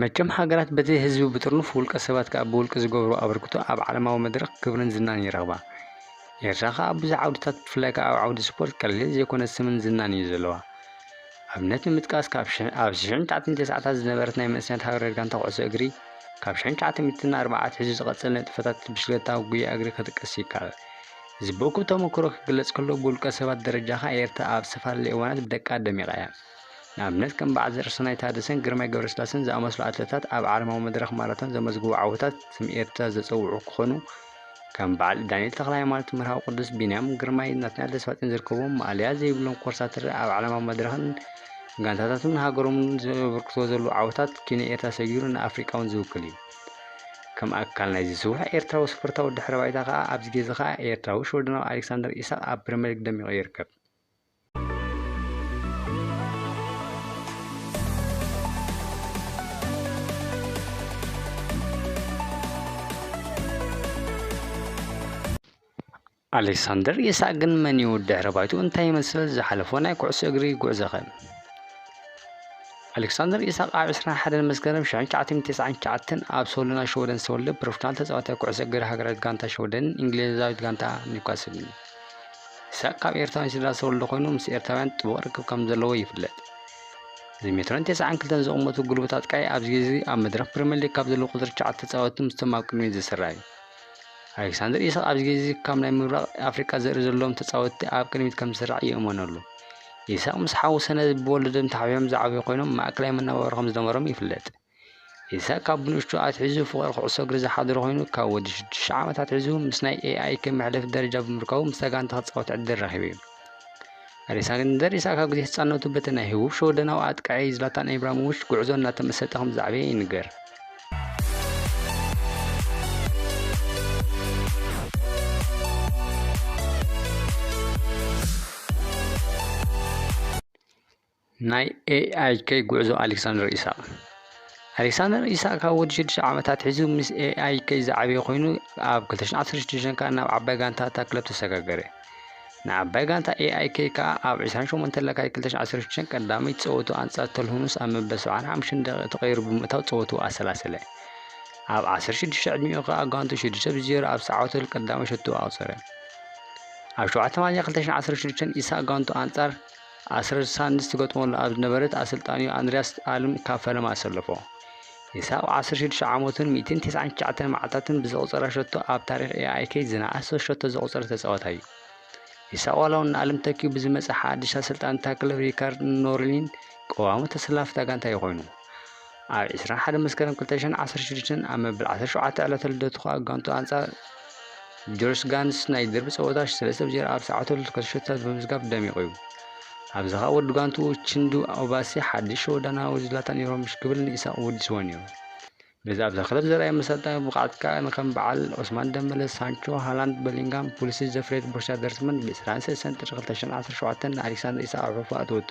መቸም ሃገራት በቲ ህዝቢ ብጥርኑፍ ውልቀ ሰባት ከኣ ብውልቂ ዝገብርዎ ኣበርክቶ ኣብ ዓለማዊ መድረኽ ክብርን ዝናን ይረኽባ። ኤርትራ ከኣ ኣብ ብዙሕ ዓውድታት ብፍላይ ከኣ ኣብ ዓውዲ ስፖርት ቀሊል ዘይኮነ ስምን ዝናን እዩ ዘለዋ። ኣብነት ንምጥቃስ ካብ ሽሕ ኣብ ሽሕን ትሽዓተን ተስዓታት ዝነበረት ናይ መንእሰያት ሃገረ ጋንታ ኩዕሶ እግሪ ካብ ሽሕን ትሽዓተ ሚእትን ኣርብዓ ኣትሒዙ ዝቐጸለ ንጥፈታት ብሽክለታ ጉያ እግሪ ክጥቀስ ይከኣል። እዚ ብእኩብ ተመኩሮ ክግለጽ ከሎ ብውልቀ ሰባት ደረጃ ከኣ ኤርትራ ኣብ ዝተፋላለዩ እዋናት ብደቃ ደሚቓ እያ። ንኣብነት ከም በዓል ዘርእሰናይ ታደሰን ግርማይ ገብረስላሰን ዝኣመስሉ ኣትለታት ኣብ ዓለማዊ መድረኽ ማራቶን ዘመዝግቡ ዓወታት ስም ኤርትራ ዘጸውዑ ክኾኑ ከም በዓል ዳንኤል ተክለሃይማኖት፣ መርሃዊ ቅዱስ፣ ቢንያም ግርማይ፣ ናትናኤል ተስፋጽዮን ዝርከቦም ማእለያ ዘይብሎም ኮርሳትር ኣብ ዓለማዊ መድረኽን ጋንታታቱን ሃገሮምን ዘበርክቶ ዘሉ ዓወታት ኪነ ኤርትራ ሰጊሩ ንኣፍሪቃውን ዝውክል እዩ። ከም ኣካል ናይዚ ስቡሕ ኤርትራዊ ስፖርታዊ ድሕረ ባይታ ከኣ ኣብዚ ግዜ ከኣ ኤርትራዊ ሽወደናዊ ኣሌክሳንደር ኢሳቕ ኣብ ፕሪምየር ሊግ ደሚቑ ይርከብ። ኣሌክሳንደር ኢሳቅ ግን መን እዩ ድሕረ ባይቱ እንታይ ይመስል ዝሓለፎ ናይ ኩዕሶ እግሪ ጉዕዞኸ ኣሌክሳንደር ኢሳቅ ኣብ 21 መስከረም 1999 ኣብ ሶሎና ሸወደን ዝተወልደ ፕሮፌሽናል ተፃዋታይ ኩዕሶ እግሪ ሃገራዊት ጋንታ ሸወደንን እንግሊዛዊት ጋንታ ኒውካስልን እዩ ኢሳቕ ካብ ኤርትራውያን ስድራ ዝተወልደ ኮይኑ ምስ ኤርትራውያን ጥቡቕ ርክብ ከም ዘለዎ ይፍለጥ። እዚ ሜትሮን ተስዓን ክልተን ዝቕመቱ ጉልበት ኣጥቃዒ ኣብዚ ግዜ እዚ ኣብ መድረኽ ፕሪምየር ሊግ ካብ ዘለዉ ቁጽሪ ትሽዓተ ተጻወትቲ ምስቶም ኣብ ቅድሚት ዝስራዕ እዩ። ኣሌክሳንደር ኢሳቕ ኣብዚ ግዜ እዚ ካብ ናይ ምብራቕ ኣፍሪቃ ዘርኢ ዘለዎም ተጻወትቲ ኣብ ቅድሚት ከም ዝስራዕ ይእመነሉ። ኢሳቕ ምስ ሓዉ ሰነድ ብወለዶም ተሓቢኦም ዝዓበዩ ኮይኖም ማእከላይ መነባብሮ ከም ዝነበሮም ይፍለጥ። ኢሳቕ ካብ ብንእሽቱ ኣትሒዙ ፍቕሪ ኩዕሶ እግሪ ዝሓደሮ ኮይኑ ካብ ወዲ ሽዱሽተ ዓመት ኣትሒዙ ምስ ናይ ኤኣይ ከም መሕለፊ ደረጃ ብምርካቡ ምስታ ጋንታ ክጻወት ዕድል ረኺቡ እዩ። ኣሌክሳንደር ኢሳቕ ካብ ግዜ ህጻንነቱ በቲ ናይ ህቡብ ሸወደናዊ ኣጥቃዒ ዝላታን ኢብራሂሞቪች ጉዕዞ እናተመሰጠ ከም ዝዓበየ ይንገር። ናይ AIK ጉዕዞ ኣሌክሳንደር ኢሳቕ ኣሌክሳንደር ኢሳቕ ካብ ወዲ ሽዱሽተ ዓመታት ሒዙ ምስ AIK ዝዓበየ ኮይኑ ኣብ 2016 ከዓ ናብ ዓባይ ጋንታ እታ ክለብ ተሰጋገረ። ንዓባይ ጋንታ AIK ከዓ ኣብ 28 ለካቲት 2016 ቀዳመይ ፀወቱ ኣንፃር ተልሁኑስ ኣብ መበል 75 ደቂቕ ተቐይሩ ብምእታው ፀወቱ ኣሰላሰለ። ኣብ 16 ዕድሚኡ ከዓ ጋንቱ 6 ብ0 ኣብ ሰዓወተሉ ቀዳመይ ሸቶ ኣቑፀረ። ኣብ 7 ሚያዝያ 2016 ኢሳቕ ጋንቱ ኣንፃር ኣስረድ ሳንድስ ትገጥመሉ ኣብ ዝነበረት ኣሰልጣኒኡ ኣንድሪያስ ኣልም ካብ ፈለማ ኣሰለፎ። ኢሳቕ ዓሰርተ ሽዱሽተ ዓመቱን ሚእትን ተስዓን ትሽዓተን መዓልታትን ብዘቑጸራ ሸቶ ኣብ ታሪኽ AIK ዝነኣሰ ሸቶ ዘቑጸረ ተጻዋታይ እዩ። ኢሳቕ ዋላ እውን ንኣልም ተኪኡ ብዝመጸ ሓድሽ ኣሰልጣኒ እታ ክለብ ሪካርድ ኖርሊን ቀዋሚ ተሰላፊ እታ ጋንታ እዩ ኮይኑ። ኣብ ዕስራን ሓደን መስከረም ክልተ ሽሕን ዓሰርተ ሽዱሽተን ኣብ መበል ዓሰርተ ሸውዓተ ዕለተ ልደቱ ከኣ ጋንትኡ ኣንጻር ጆርጅ ጋንስ ናይ ደርቢ ጸወታ ሰለስተ ብ ዜሮ ኣብ ሰዓተ ልደቱ ክልተ ሸቶታት ብምምዝጋብ ደሚቑ እዩ። ኣብዚ ከኣ ወዲ ጋንትኡ ቺንዱ ኦባሲ ሓድሽ ሸወዳናዊ ዝላታን ኢብራሂሞቪች ክብል ንኢሳቕ ወዲስዎ ነይሩ። በዚ ኣብዛ ክለብ ዘርኣዮ መሰልጠዊ ብቕዓት ከኣ ንከም በዓል ኦስማን ደምበለ፣ ሳንቾ፣ ሃላንድ፣ በሊንጋም፣ ፑሊሲች ዘፍረየት ቦርሻ ደርትመንድ ብ ዕስራን ሰለስተን ጥሪ ክልተ ሽሕን ዓሰርተ ሸውዓተን ንኣሌክሳንደር ኢሳቕ ኣብ ሕልፉ ኣእተወቶ።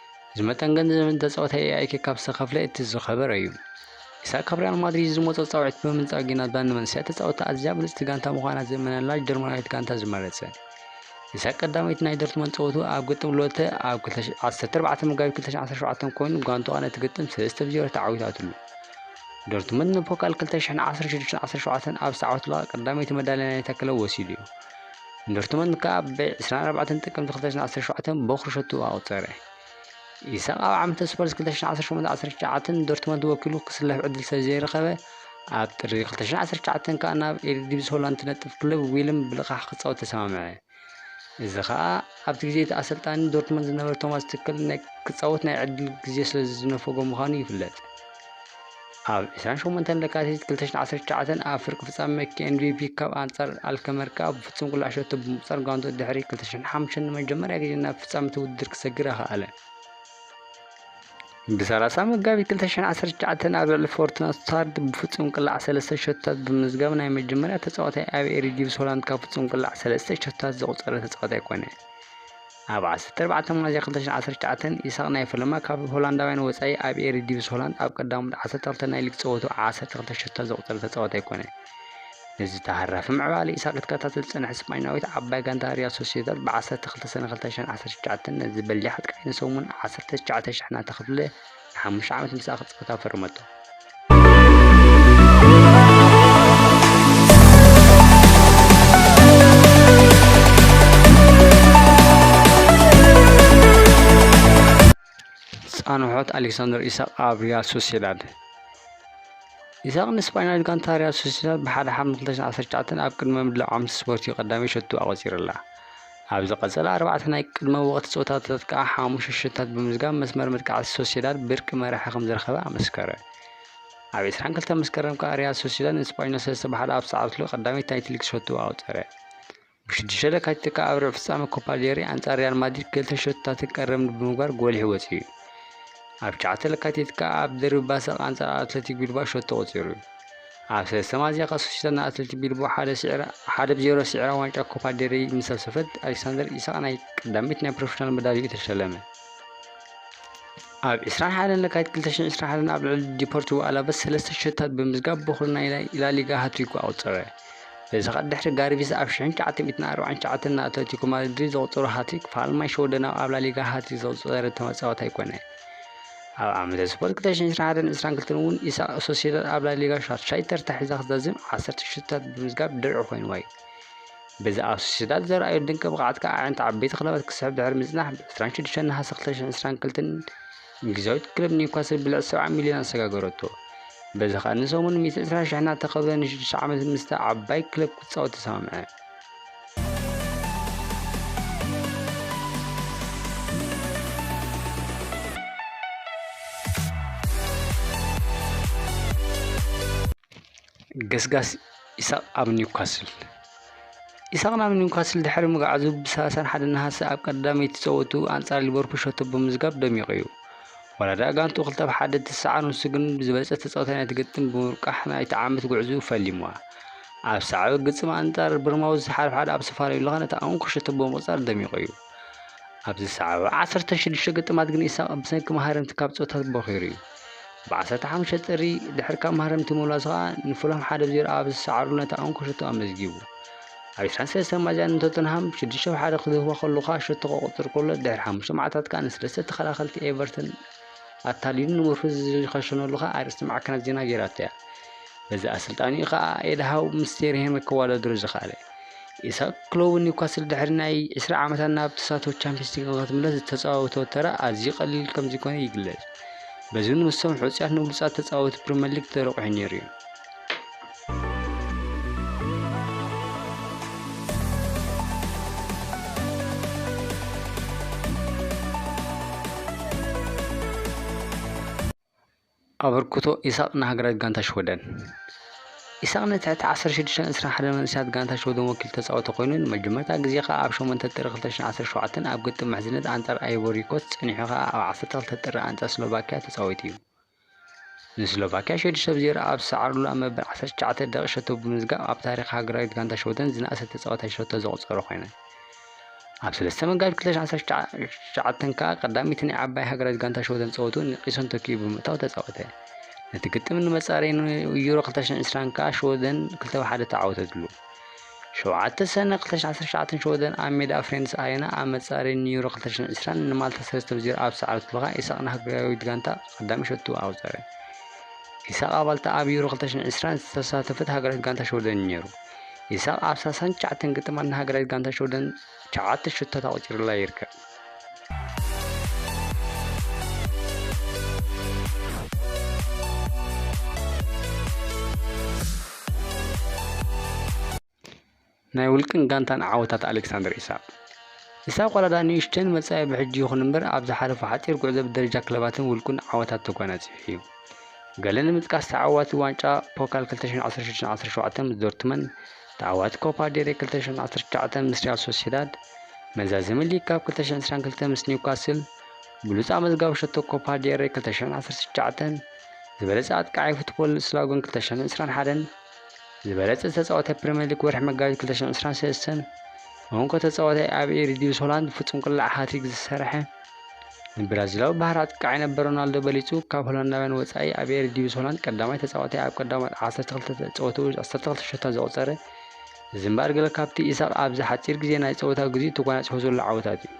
እዚ መጠን ገንዘብ ንተጻወተ ኤኣይኬ ካብ ዝተኸፍለ እቲ ዝኸበረ እዩ። ኢሳቅ ካብ ሪያል ማድሪድ ዝመጾ ጻውዒት ብምንጻግ እዩ ናትዛ ንመንስያ ተጻወታ ኣዝያ ብልጽቲ ጋንታ ምዃና ዝእመነላ ጀርመናዊት ጋንታ ዝመረጸ። ኢሳቅ ቀዳመይቲ ናይ ዶርትመንድ ጸወቱ ኣብ ግጥም ሎተ ኣብ 14 መጋቢት 2017 ኮይኑ ጋንታኣ ነቲ ግጥም 3 ብ 0 ተዓዊታትሉ። ዶርትመንድ ንፖካል 2016-17 ኣብ ዝተዓወትላ ቀዳመይቲ መዳልያ ናይታ ክለብ ወሲዱ እዩ። ዶርትሞንድ ከኣ ብ ዕስራን ኣርባዕተን ጥቅምቲ ክልተ ሽሕን ዓሰርተ ሸውዓተን ቦኽሪ ሸትኡ ኣቑጸረ። ኢሳቕ ኣብ ዓመተ ስፐርስ ክልተ ሽሕን ዓሰርተ ሸሞንተን ዓሰርተ ትሽዓተን ዶርትሞንድ ወኪሉ ክስለፍ ዕድል ስለዘይረኸበ፣ ኣብ ጥሪ ክልተ ሽሕን ዓሰርተ ትሽዓተን ከኣ ናብ ኤሪዲቪዚ ሆላንድ ትነጥፍ ክለብ ዊልም ብልቓሕ ክጻወት ተሰማምዐ። እዚ ከኣ ኣብቲ ግዜ እቲ ኣሰልጣኒ ዶርትሞንድ ዝነበረ ቶማስ ቱከል ክጻወት ናይ ዕድል ግዜ ስለዝነፈጎ ምዃኑ ይፍለጥ። ኣብ ዕስራን ሸሞንተን ለካቲት ክልተ ሽሕን ዓሰርተ ትሽዓተን ኣብ ፍርቂ ፍጻመ KNVB ካፕ ኣንጻር ኣልከመር ከኣ ብፍጹም ቁልዕ ሸቶ ብምቁጻር ጋንትኡ ድሕሪ ክልተ ሽሕን ሓሙሽተን ንመጀመርያ ግዜ ናብ ፍጻመ እቲ ውድድር ክሰግር ኣኽኣለ። ብሰላሳ መጋቢት ክልተ ሽሕን ዓሰርተ ትሽዓተን ኣብ ልዕሊ ፎርቱና ስቱትጋርት ብፍጹም ቅላዕ ሰለስተ ሸቶታት ብምምዝጋብ ናይ መጀመርያ ተጻዋታይ ኣብ ኤሪዲቪስ ሆላንድ ካብ ፍጹም ቅላዕ ሰለስተ ሸቶታት ዘቑጸረ ተጻዋታይ ኮነ። ኣብ ዓሰርተ ኣርባዕተ ሚያዝያ ክልተ ሽሕን ዓሰርተ ትሽዓተን ኢሳቕ ናይ ፈለማ ካብ ሆላንዳውያን ወጻኢ ኣብ ኤሪዲቪስ ሆላንድ ኣብ ቀዳሞት ዓሰርተ ክልተ ናይ ሊግ ጸወትኡ ዓሰርተ ክልተ ሸቶታት ዘቑጸረ ተጻዋታይ ኮነ። ነዚ ተሃራፊ ምዕባለ ኢሳቕ ክትከታተል ዝጸንሐት ስጳኛዊት ዓባይ ጋንታ ሪያል ሶሲዳድ ብ ዓሰርተ ክልተ ሰነ ክልተ ሽሕን ዓሰርተ ትሽዓተን ነዚ በሊሕ ኣጥቃዒ ንሰሙን ዓሰርተ ትሽዓተ ሽሕ እናተኸፍለ ንሓሙሽተ ዓመት ምስኣ ክትጻወት ኣፈረመቶ። ጻንሖት ኣሌክሳንደር ኢሳቕ ኣብ ሪያል ሶሲዳድ ኢሳቕ ንስጳኛዊት ጋንታ ሪያል ሶሲዳድ ብሓደ ሓምለ 2019 ኣብ ቅድመ ምድላው ዓመት ስፖርት እዩ ቀዳመይ ሸቱ ኣቖጺሩላ። ኣብ ዝቐጸለ ኣርባዕተ ናይ ቅድመ ወቕቲ ጸወታታት ከኣ ሓሙሽተ ሽቶታት ብምምዝጋብ መስመር መጥቃዕቲ ሶሲዳድ ብርቂ መራሒ ከም ዝረኸበ ኣመስከረ። ኣብ 22 መስከረም ከኣ ሪያል ሶሲዳድ ንስጳኞል ሰለስተ ብሓደ ኣብ ዝሰዓረትሉ ቀዳመይቲ ናይቲ ሊግ ሸቶ ኣቑጸረ። ብሽዱሽተ ለካቲት ከኣ ኣብ ርብዒ ፍጻመ ኮፓ ዴሪ ኣንጻር ሪያል ማድሪድ ክልተ ሸቶታትን ቀረብን ብምግባር ጎሊሑ ወጺኡ እዩ። ኣብ ትሽዓተ ለካቲት ከኣ ኣብ ደርቢ ባሰቅ ኣንጻር ኣትለቲክ ቢልባኦ ሸቶ ኣቑጺሩ እዩ። ኣብ ሰለስተ ሚያዝያ ከሰሽተን ኣትልቲ ቢልቦ ሓደ ስዒራ ሓደ ብዜሮ ስዒራ ዋንጫ ኮፓ ዴሬይ ምስ ሰብሰበት ኣሌክሳንደር ኢሳቅ ናይ ቀዳመይቲ ናይ ፕሮፌሽናል መዳልዩ ተሸለመ። ኣብ 21 ለካቲት 2021 ኣብ ልዕሊ ዲፖርቲቮ ኣላቨስ ሰለስተ ሸታት ብምዝጋብ በኩሪ ናይ ላሊጋ ሃትሪኩ ኣቁፀረ እዚ ከ ድሕሪ ጋርቪስ ኣብ 1949 ን ኣትለቲኮ ማድሪድ ዘቁፀሮ ሃትሪክ ፋልማይ ሸወደናዊ ኣብ ላሊጋ ሃትሪክ ዘቁፀረ ተመፃዋታይ ኮነ ኣብ ዓመተ ስፖርት ክልተ ሽሕን ሸውዓተን ዕስራን ክልተን እውን ኢሳቕ ሶሲዳድ ኣብ ላሊጋ ሻድሻይ ተርታ ሒዛ ክትዛዝም ዓሰርተ ሽቶታት ብምምዝጋብ ድርዒ ኮይንዋ እዩ። በዚ ኣብ ሶሲዳድ ዘርኣዮ ድንቂ ብቕዓት ከኣ ኣዒንቲ ዓበይቲ ክለባት ክስሕብ ድሕሪ ምጽናሕ ብ ዕስራን ሽዱሽተን ነሓሰ ክልተ ሽሕን ዕስራን ክልተን እንግሊዛዊት ክለብ ኒውካስል ብልዕቲ ሰብዓ ሚልዮን ኣሰጋገረቶ። በዚ ከኣ ንሰሙን ሚእቲ ዕስራ ሽሕ እናተኸብረ ንሽዱሽተ ዓመት ምስታ ዓባይ ክለብ ክጻወት ተሰማምዐ። ገስጋስ ኢሳቕ ኣብ ኒውካስል ኢሳቕ ናብ ኒውካስል ድሕሪ ምግዓዙ ብሰላሳን ሓደ ነሃሰ ኣብ ቀዳመይቲ ፀወቱ ኣንፃር ሊቨርፑል ሸቶ ብምዝጋብ ደሚቑ እዩ ዋላ ደኣ ጋንቱ ክልተ ብ ሓደ ትስዓር ንሱ ግን ብዝበለፀ ተፃወታይ ናይ ትግጥም ብምርቃሕ ናይቲ ዓመት ጉዕዝኡ ፈሊምዋ ኣብ ሳዕቢ ግፅም ኣንጻር ብርማዊ ዝሓድሓድ ኣብ ሰፋሪ ልኻን እቲ ኣንኩ ሽቶ ብምቕጻር ደሚቑ እዩ። ኣብ ዝሰዓበ ዓሰርተ ሽዱሽተ ግጥማት ግን ኢሳቕ ብሰንኪ መሃረምቲ ካብ ጸወታት ቦኺሩ እዩ። ብዓሰርተ ሓሙሽተ ጥሪ ድሕሪ ካብ መሃረምቲ ምምላሱ ከኣ ንፉላም ሓደ ብ ዜሮ ኣብ ዝሰዓረሉ ነታ ኣንኩ ሽቶ ኣመዝጊቡ። ኣብ ዕስራን ሰለስተን ሚያዝያ ንቶተንሃም ሽዱሽተ ብ ሓደ ክድህባ ከሎ ከኣ ሽቶ ከቑጽር ከሎ ድሕሪ ሓሙሽተ መዓልታት ከኣ ንሰለስተ ተኸላኸልቲ ኤቨርተን ኣታሊሉ ንምርኩስ ዝኸሸነሉ ከኣ ኣርእስቲ ማዕከናት ዜና ገይራቶ እያ። በዚ ኣሰልጣኒኡ ከኣ ኤድሃው ምስ ቴርሄመ ክዋዳደሩ ዝኸኣለ ኢሳቅ ክሎቡ ኒውካስል ድሕሪ ናይ 20 ዓመታት ናብ ተሳትፎ ቻምፒየንስ ሊግ ንክትምለስ ዝተጻወቶ ተራ ኣዝዩ ቀሊል ከም ዘይኮነ ይግለጽ። በዚ እውን ምስቶም ሕጹያት ንብሉጻት ተጻወቲ ፕሪምየር ሊግ ተረቑሑ ነይሩ እዩ። ኣበርክቶ ኢሳቕ ንሃገራዊት ጋንታ ሽወደን። ኢሳቕ ነቲ ትሕቲ ዓሰርተ ሽዱሽተን ዕስራን ሓደን መንእሰያት ጋንታ ሽወደን ወኪሉ ተጻወተ ኮይኑ፣ ንመጀመርታ ግዜ ከኣ ኣብ ሸሞንተ ጥሪ ክልተ ሽሕን ዓሰርተ ሸውዓተን ኣብ ግጥም ምሕዝነት ኣንጻር ኣይቮሪኮስት ጸኒሑ ከኣ ኣብ ዓሰርተ ክልተ ጥሪ ኣንጻር ስሎቫክያ ተጻዊቱ'ዩ። ንስሎቫክያ ሸዱሽተ ብ ዜሮ ኣብ ዝሰዓሩሉ ኣብ መበል ዓሰርተ ትሽዓተ ደቒቕ ሸቶ ብምምዝጋብ ኣብ ታሪኽ ሃገራዊት ጋንታ ሽወደን ዝነኣሰ ተጻዋታይ ሸቶ ዘቑጸረ ኮይኑ፣ ኣብ ሰለስተ መጋቢት 2019 ከኣ ቀዳመይቲ ናይ ዓባይ ሃገራዊት ጋንታ ሽወደን ጸወትኡ ንቂሶን ተኪኡ ብምእታው ተጻወተ። ነቲ ግጥም ንመጻረዪ ዩሮ 2020 ከኣ ሽወደን 2 ብ 1 ተዓወተትሉ። ሸውዓተ ሰነ 2019 ሽወደን ኣብ ሜዳ ፍሬንድስ ኣሬና ኣብ መጻረዪ ንዩሮ 2020 ንማልታ 3 ብ 0 ኣብ ዝሰዓረትሉ ከኣ ኢሳቕ ንሃገራዊት ጋንታ ቀዳሚ ሸቱ ኣቑጸረ። ኢሳቕ ኣባልታ ኣብ ዩሮ 2020 ዝተሳተፈት ሃገራዊት ጋንታ ሽወደን እዩ ነይሩ። ይሳቕ ኣብ ሳሳን ትሽዓተን ግጥማት ንሃገራዊት ጋንታ ሽወደን ትሽዓተ ሹቶታት ኣቑጺሩላ ይርከብ። ናይ ውልቅን ጋንታን ዓወታት ኣሌክሳንደር ኢሳቅ ኢሳቅ ዋላዳ ንእሽተን መጻኢ ብሕጂ ይኹን እምበር ኣብ ዝሓለፉ ሓጺር ጉዕዞ ብደረጃ ክለባትን ውልቁን ዓወታት ተጓናጺፉ እዩ። ገለ ንምጥቃስ ተዓዋቲ ዋንጫ ፖካል 2016-17 ምስ ዶርትመን፣ ተዓዋቲ ኮፓ ዴሬ 2019 ምስ ሪያል ሶሲዳድ፣ መዛዘሚ ሊግ ካፕ 2022 ምስ ኒውካስል፣ ብሉጽ ኣመዝጋቢ ሸቶ ኮፓ ዴሬ 2019፣ ዝበለጸ ኣጥቃዓይ ፉትቦል ስላጎን 2021ን ዝበለጸ ተጻዋታይ ፕሪምየር ሊግ ወርሒ መጋቢት 2023ን እንኮ ተጻዋታይ ኣብ ኤሪዲቪስ ሆላንድ ፍጹም ቅላዕ ሃትሪክ ዝሰርሐ ንብራዚላዊ ባህሪ ኣጥቃዓይ ነበር ሮናልዶ በሊጹ ካብ ሆላንዳውያን ወጻኢ ኣብ ኤሪ ዲቪስ ሆላንድ ቀዳማይ ተጻዋታይ ኣብ ቀዳማት 12 ጸወትኡ 12 ሸታ ዘቑጸረ እዚ እምበኣር ገለ ካብቲ ኢሳቕ ኣብዚ ሓጺር ግዜ ናይ ጸወታ ግዜኡ ተጓናጺፎ ዘሎ ዓወታት እዩ።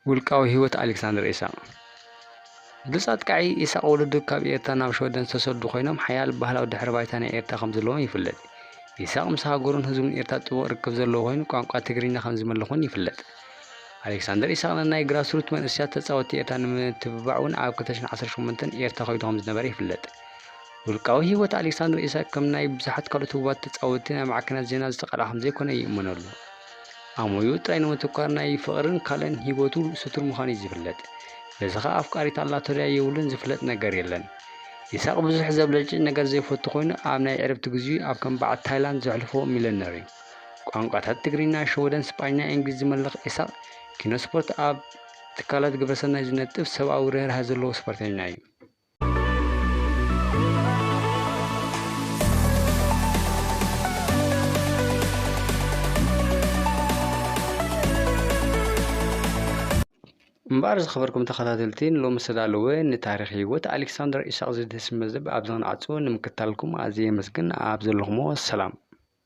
ውልቃዊ ህይወት ኣሌክሳንደር ኢሳቕ ብሉጽ ኣጥቃዒ ኢሳቕ ወለዱ ካብ ኤርትራ ናብ ሽወደን ዝተሰዱ ኮይኖም ሓያል ባህላዊ ድሕረ ባይታ ናይ ኤርትራ ከም ዘለዎም ይፍለጥ። ኢሳቕ ምስ ሃገሩን ህዝቡን ኤርትራ ጥቡቕ ርክብ ዘለዎ ኮይኑ ቋንቋ ትግርኛ ከም ዝመልኹን ይፍለጥ። ኣሌክሳንደር ኢሳቕ ንናይ ግራስሩት መንእሰያት ተጻወቲ ኤርትራ ንምትብባዕ እውን ኣብ 2018 ኤርትራ ከይዱ ከም ዝነበረ ይፍለጥ። ውልቃዊ ህይወት ኣሌክሳንደር ኢሳቅ ከም ናይ ብዙሓት ካልኦት ህቡባት ተጻወቲ ናብ ማዕከናት ዜና ዝተቃልዓ ከምዘይኮነ ይእመነሉ። ኣሞዩ ጥራይ ንምትኳር ናይ ፍቕርን ካልእን ሂወቱ ስቱር ምዃኑዩ ዝፍለጥ። በዚ ከኣ ኣፍቃሪት ኣላቶ ድያ የብሉን ዝፍለጥ ነገር የለን። ይሳቕ ብዙሕ ዘብለጭልጭ ነገር ዘይፈቱ ኮይኑ ኣብ ናይ ዕረፍቲ ግዚኡ ኣብ ከም በዓል ታይላንድ ዘሕልፎ ሚለነርዩ። ቋንቋታት ትግርይና፣ ሸወደን፣ ስጳኛ፣ ኢንግሊዝ ዝመልኽ ኢሳቕ ኪኖ ስፖርት ኣብ ትካላት ግብረሰናይ ዝነጥፍ ሰብኣዊ ርህራሀ ዘለዎ ስፖርተኛዩ። እምበኣር ዝኸበርኩም ተኸታተልቲ ንሎሚ ዝተዳለወ ንታሪኽ ህይወት ኣሌክሳንደር ኢሳቕ ዝድህስስ መዝብ ኣብዚ ክንዓጹ ንምክታልኩም ኣዝየ የመስግን ኣብ ዘለኹሞ ሰላም